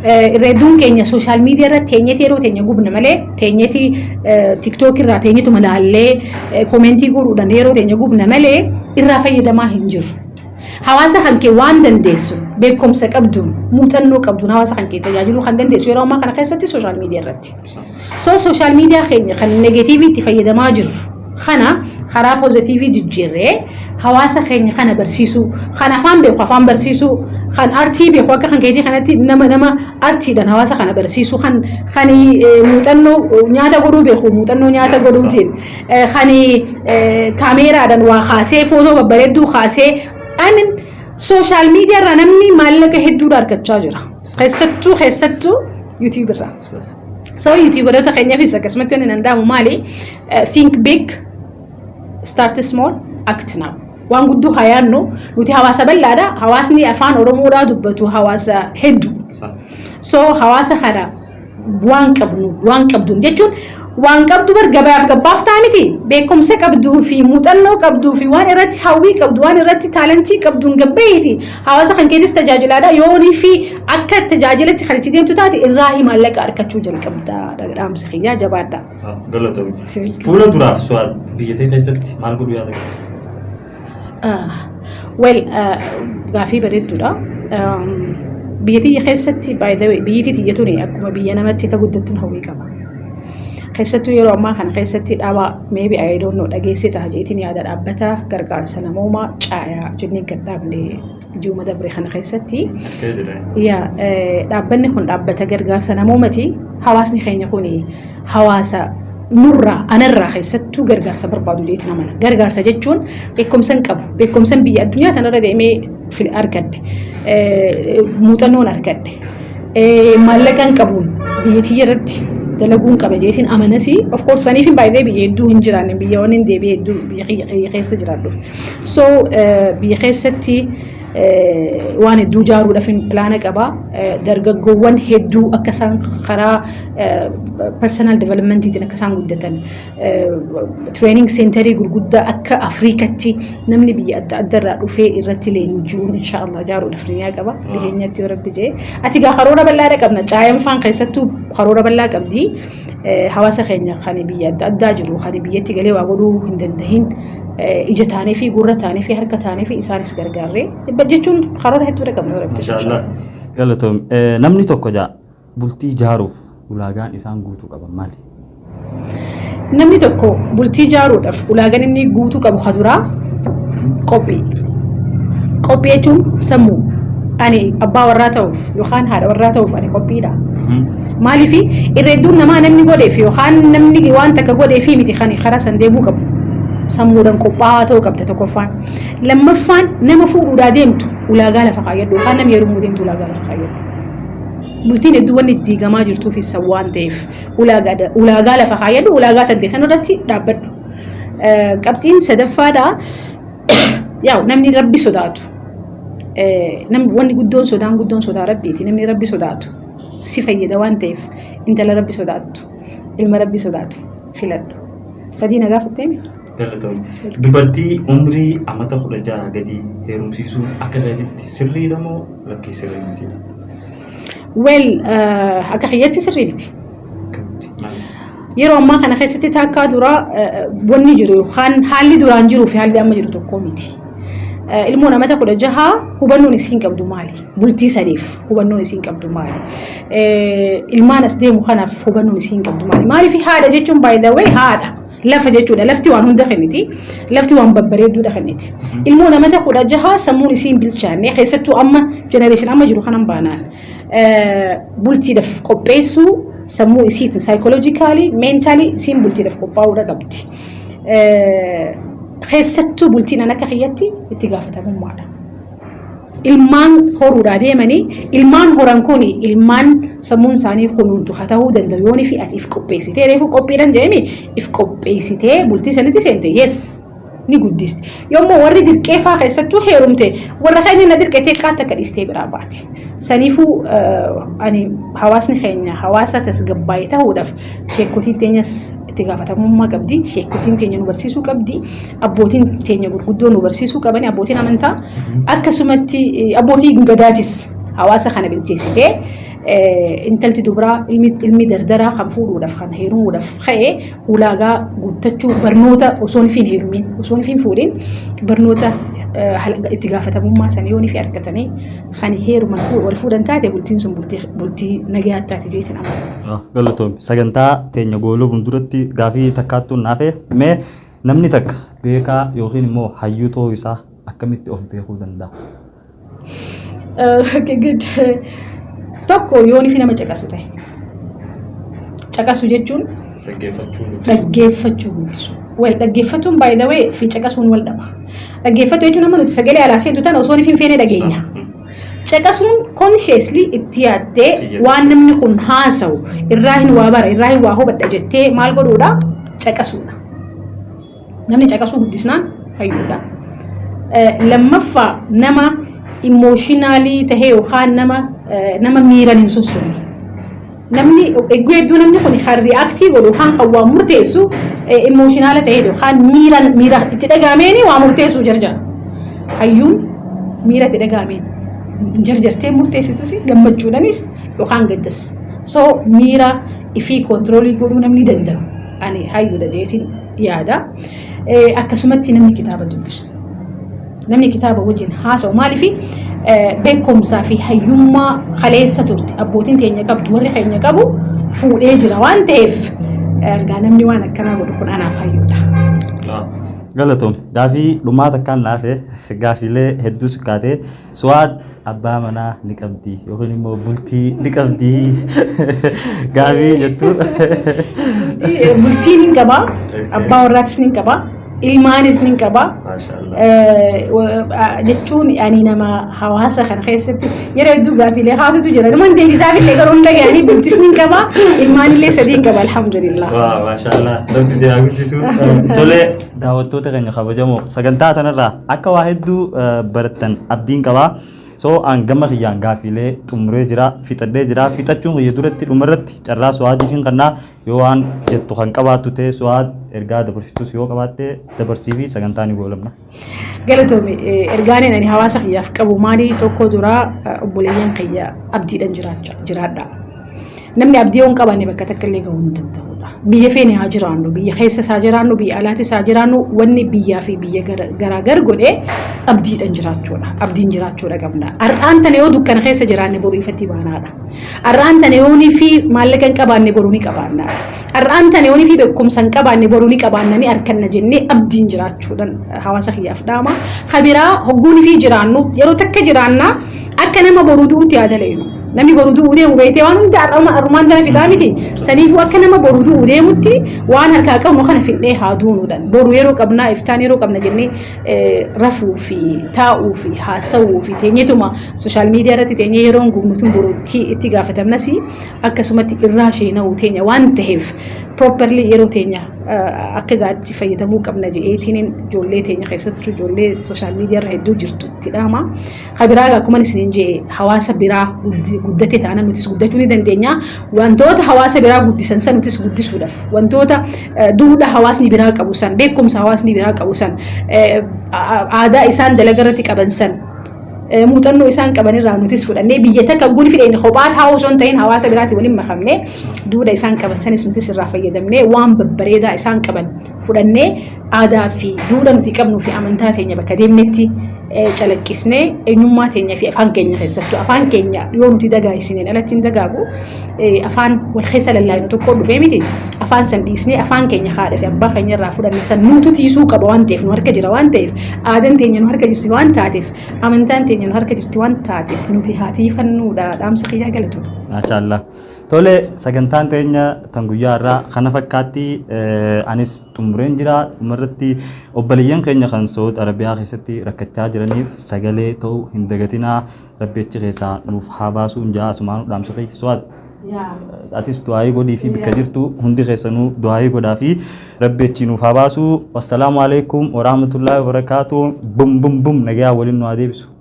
Irra hedduun keenya sooshaal miidiyaa irratti teenyee yeroo teenya gubna malee teenyeti tiktok irraa teenyetuma laallee komentii godhuudhaan yeroo teenya gubna malee irraa fayyadamaa hin jiru. Hawaasa kan kee waan dandeessu beekumsa qabduun muuxannoo qabduun hawaasa kan kee tajaajiluu kan dandeessu yeroo ammaa kana keessatti sooshaal miidiyaa irratti. So sooshaal miidiyaa keenya kan negeetiivii itti fayyadamaa jirru Kana karaa pozatiivii jijjiirree hawaasa keenya kana barsiisuu, kan afaan beeku afaan barsiisuu, kan artii beeku akka kan keetii kanatti nama nama artiidhaan hawaasa kana barsiisuu, kan kan muuxannoo nyaata godhuu beeku muuxannoo nyaata godhuutiin, kan kaameeraadhaan waa kaasee footoo babbareedduu kaasee I mean sooshaal miidiyaa irraa namni maallaqa hedduudha argachaa jira. Keessattuu keessattuu yuutuubii irraa. So yuutuubaroota keenyaafis akkasumatti wanni danda'amu maali? Eh, Think big, start small, act now. Waan guddoo haa yaadnu nuti hawaasa bal'aadha. Hawaasni afaan Oromoodhaa dubbatu hawaasa hedduu. Sa- So hawaasa kana waan qabnu waan qabdu jechuun waan qabdu bar gabaaf gabbaaf ta'a miti beekumsa qabduu fi muuxannoo qabduu fi waan irratti hawwii qabdu waan irratti taalentii qabduun gabbeeti Hawaasa kan keetis tajaajilaadha. Yoonii fi akka tajaajilatti kan itti deemtu taate irraa hii maallaqa arkachuu jalqabda. Dhaamsi kiyyaa jabaadha. Galatomi. Fuula duraaf su'aad biyya ta'e keessatti maal godhu yaada qabdu? Wel gaafii bareedduudha. Biyya tiyya keessatti by the way biyyi tiyya tuni akkuma biyya namatti akka guddattu hawwii qaba. Keessattuu yeroo ammaa kana keessatti dhaaba maybe I don't know dhageessee ta'a jeetiin yaada dhaabbata gargaarsa namoomaa caayaa jennee gad dhaabne ji'uma dabre kana keessatti Akkee jira. yaa eh, dhaabbanni kun dhaabbata gargaarsa namoomati hawaasni keenya kun hawaasa nurraa anarraa keessattuu gargaarsa barbaadu jeetti namana gargaarsa jechuun beekumsan qabu beekumsan biyya addunyaa tanarra deemee fil- argadhe eh, muuxannoon argadhe maallaqa hin qabuun biyya tiyya irratti dalaguun qaba jeetiin amanasii of course saniif hin baay'ee biyya hedduu hin jiraanne biyya waan hin deebi'e hedduu biyya kiyya kiyya keessa jiraadhuuf so biyya keessatti waan hedduu jaaruudhaaf hin pilaana qaba dargaggoowwan hedduu akka isaan karaa personal developmentiitiin akka isaan guddatan Training Centerii gurguddaa akka Afrikatti namni biyya adda adda irraa dhufee irratti leenji'uun inshaallah ijaaruudhaaf niyaa qaba. Dhiheenyatti yoo rabbi jee. Ati gaa karoora bal'aadha qabna. Caayinfaan keessattuu karoora bal'aa qabdi. Hawaasa keenya kan biyya adda addaa jiru kan biyyatti galee waa godhuu hin dandahin ija taanee fi gurra taanee fi harka taanee fi isaanis gargaarree jechuun karoora hedduudha qabna yoo rabbi. Inshaallah. Galatoom. Namni tokko jaa. Bultii ijaaruuf ulaagaan isaan guutuu qaban maali? Namni tokko bultii ijaaruudhaaf ulaagaan inni guutuu qabu kan duraa qophii. Qophii jechuun sammuu. Ani abbaa warraa ta'uuf yookaan haadha warraa ta'uuf ani qophiidha. Maaliif irra hedduun namaa namni godheef yookaan namni waan takka godheef miti kan karaa san deemuu qabu. Sammuudhaan qophaa'aa ta'uu qabda tokkoffaan. Lammaffaan nama fuudhuudhaa deemtu ulaagaa lafa kaayyadhu yookaan nama heerumuu deemtu ulaagaa lafa kaayyadhu. bultiin hedduu wanni itti diigamaa jirtuuf isa waan ta'eef ulaagaa lafa kaayyadhu ulaagaa tantee san irratti dhaabbadhu. Qabxiin sadaffaadha yaa namni rabbi sodaatu wanni guddoon sodaan guddoon sodaa rabbiiti namni rabbi sodaatu si fayyada waan ta'eef intala rabbi sodaattu ilma rabbi sodaatu filadhu. Sadii na gaafatteemi? Galatomi. Dubartii umrii amata 16 gadii heerumsiisuun akka keetitti sirriidha moo lakkii sirrii mitiidha? Well akka kiyyatti sirrii miti. Akkamitti? Maaliif? Yeroo ammaa kana keessatti taakkaa dura wanni jiru kan haalli duraan jiruu fi haalli amma jiru tokko miti. Ilmoon amata 16 hubannoon isiin qabdu maali? Bultii saniif hubannoon isiin qabdu maali? Ilmaan as deemu kanaaf hubannoon isiin qabdu maali? Maaliif haadha jechuun by the way haadha. Lafa jechuudha. Lafti waan hunda kenniti. Lafti waan babbareedduudha kenniti. Ilmoo namata kudha jaha sammuun isiin bilchaanne keessattuu amma jenereeshin amma jiru kanan baanaan bultiidhaaf qopheessuu sammuu isiitiin saayikooloojikaalii meentaalii isiin bultiidhaaf qophaa'uudha qabdi. Keessattuu bultiin an akka kiyyatti itti gaafatamummaadha. ilmaan horuudhaa deemanii ilmaan horan kun ilmaan sammuun isaanii kunuuntu haa ta'uu danda'u yoon fi ati if qopheessitee reefuu qophiidhan jedhame if qopheessitee bultii sanitti seente yes ni guddisti yommuu warri dirqeefaa keessattuu heerumte warra keenya na dirqetee qaatti akka dhiistee biraa baati saniifuu ani hawaasni keenya hawaasa tasgabbaa'ee ta'uudhaaf sheekotiin teenyas itti gaafatamummaa qabdi sheekotiin teenya nu barsiisuu qabdi abbootiin teenya gurguddoo nu barsiisuu qabanii abbootiin amantaa akkasumatti eh, abbootiin gadaatis hawaasa kana bilcheessitee eh, intalti dubraa ilmi, ilmi dardaraa kan fuudhuudhaaf kan heerumuudhaaf ka'e ulaagaa guuttachuu barnoota osoon fi hin heerumiin osoon fi hin fuudhin barnoota eh, hal- itti gaafatamummaa sana yoon fi argatanii kan heeruman fuu- wal fuudhan taate bultiin sun bultii, bultii nagaa taate jeetiin amana. Galatoomi. Sagantaa teenya gooluu fuulduratti gaafii takkaattuu naafee mee Namni takka beekaa yookiin immoo hayyuu ta'uu isaa akkamitti of beekuu danda'a? Okay, good. Tokko yoon ifi nama caqasu ta'e. Caqasu jechuun Dhaggeeffachuu nuti. dhaggeeffachuu guddisu. Wal dhaggeeffatuun by the way fi caqasuun wal dhaba. Dhaggeeffatu jechuun amma nuti sagalee alaa seentu tana osoo hin feenee dhageenya. Caqasuun consciously itti yaaddee waan namni kun haasawu irraa hin waa bara irraa hin waa hubadha jettee maal godhuudha caqasuudha. Namni caqasuu guddisnaan fayyuudha. Lammaffaa nama immooshinaalii tahee yookaan nama nama miiran hin sossoone. Namni egguu hedduu namni kun kan ri'aaktii godhu yookaan kan waa murteessu immooshiinaala ta'ee yookaan miira miira itti dhagahameen waa murteessuu jarjara. Hayyuun miira itti dhagahameen jarjartee murteessitus gammachuudhanis yookaan gaddas. So miira ifii koontiroolii godhuu namni danda'u ani hayyuudha jeetiin yaada. Akkasumatti namni kitaaba dubbisu. Namni kitaaba wajjin haasa'u maaliifi beekumsaa fi hayyummaa kaleessa turte abbootiin teenya qabdu warri keenya qabu fuudhee jira waan ta'eef ergaa namni waan akkanaa godhu kun anaaf hayyuudha. Galatoom gaafii dhumaa takkaan naafe gaafiilee hedduus kaatee su'aad abbaa manaa ni qabdi yookiin immoo bultii ni qabdi gaabii jettu. Bultiin ni qaba, abbaa warraatis ni qaba, ilmaanis ni qaba. Jechuun ani nama hawaasa kana keessatti yeroo hedduu gaaffiilee haatutu jira. Namoonni deebisaaf illee garuu hin dhaga'anii bultis ni qaba, ilmaan illee sadii ni qaba alhamdulillah. Waa maashaallah rabbi si haa guddisu. Tolee. Daawwattoota keenya kabajamoo sagantaa tanarraa akka waa hedduu barattan abdiin qaba. So an gama kiyyaan gaaffiilee xumuree jira fixadhee jira fixachuun kiyya duratti dhumarratti carraa su'aadiif hin kannaa yoo waan jettu kan qabaattu ta'e su'aad ergaa dabarsitus yoo qabaatte dabarsii fi sagantaa ni goolabna. Galatoomi ergaaniin ani hawaasa kiyyaaf qabu maali tokko duraa obboleeyyan kiyya abdiidhan jiraadha. Namni abdii yoo hin qabaanne bakka takka illee gahuu hin danda'udha. Biyya feene haa jiraannu, biyya keessa isaa jiraannu, biyya alaatis haa jiraannu, wanni biyyaa fi biyya garaa gar godhe abdiidhan jiraachuudha. Abdiin jiraachuudha qabna. Har'aan tana yoo dukkana keessa jiraanne boru ifatti baanaadha. Har'aan tana yoo ni fi maallaqa hin qabaanne boru ni qabaanna. Har'aan tana yoo ni fi beekumsa hin qabaanne boru ni qabaanna ni arkanna jennee abdiin jiraachuudhan hawaasa kiyyaaf dhaama. Kabiraa hogguun fi jiraannu yeroo takka jiraanna Akka nama boru du'uutti haa dalaynu. Namni boru du'uu deemu beektee waan hunda har'uma har'umaan tana fixaa miti. Saniifuu akka nama boru du'uu deemutti waan harkaa qabnu kana fixnee haa duunuudhaan. Boru yeroo qabnaa iftaan yeroo qabna jennee eh, rafuu fi taa'uu fi haasawuu fi teenyetuma sooshaal miidiyaa irratti teenyee yeroo hin gubnu tun boru itti itti gaafatamnas akkasumatti irraa sheena'uu teenya waan ta'eef properly yeroo teenya eh, akka gaariitti fayyadamuu qabna jedheetiin ijoollee teenya keessattuu ijoollee sooshaal miidiyaa irra hedduu jirtu. itti dhaama. Ka biraa egaa akkuma isiniin jedhe hawaasa biraa guddi- guddate taana nutis guddachuu ni dandeenya. Wantoota hawaasa biraa guddisan san nutis guddisuudhaaf wantoota eh, duudhaa hawaasni biraa qabu san beekumsa hawaasni biraa qabu san eh, a- aadaa isaan dalaga irratti qaban san Eh, muuxannoo isaan qaban irraa nutis fudhannee biyya takka guli fidheen kophaa taa'uu osoo hin ta'in hawaasa biraatiin waliin makamne duudha isaan qaban sanis nutis irraa fayyadamnee waan babbareedaa isaan qaban fudhannee aadaa fi duudha nuti qabnuu fi amantaa keenya bakka deemnetti calaqqisnee eenyummaa keenya fi afaan keenya keessattuu afaan keenya yoo nuti dagaagsineen alatti hin dagaagu afaan wal keessa lallaafnu tokko dhufee miti afaan san dhiisnee afaan keenya haadha fi abbaa keenya irraa fudhanne san nuutu tiisuu qaba waan ta'eef nu harka jira waan ta'eef aadaan teenya nu harka jirti waan taateef amantaan teenya nu harka jirti waan taateef nuti haa tiifannuudha dhaamsa kiyyaa galatu. Maashaallah. Tole sagantaan teenya tan guyyaa irraa kana fakkaatti anis xumureen jira dhumarratti obboleeyyan keenya kan Saud Arabiyaa keessatti rakkachaa jiraniif sagalee ta'uu hin dagatinaa rabbi achi keessaa nuuf haa baasuu hin jaa asumaan dhaamsa keessa Saud atis du'aayii godhii fi bikka jirtu hundi keessanuu du'aayii godhaa fi rabbi achi nuuf haa baasuu wassalaamu alaikum warahmatullaahi wabarakaatu bum bum bum nagayaa waliin nu haa deebisu.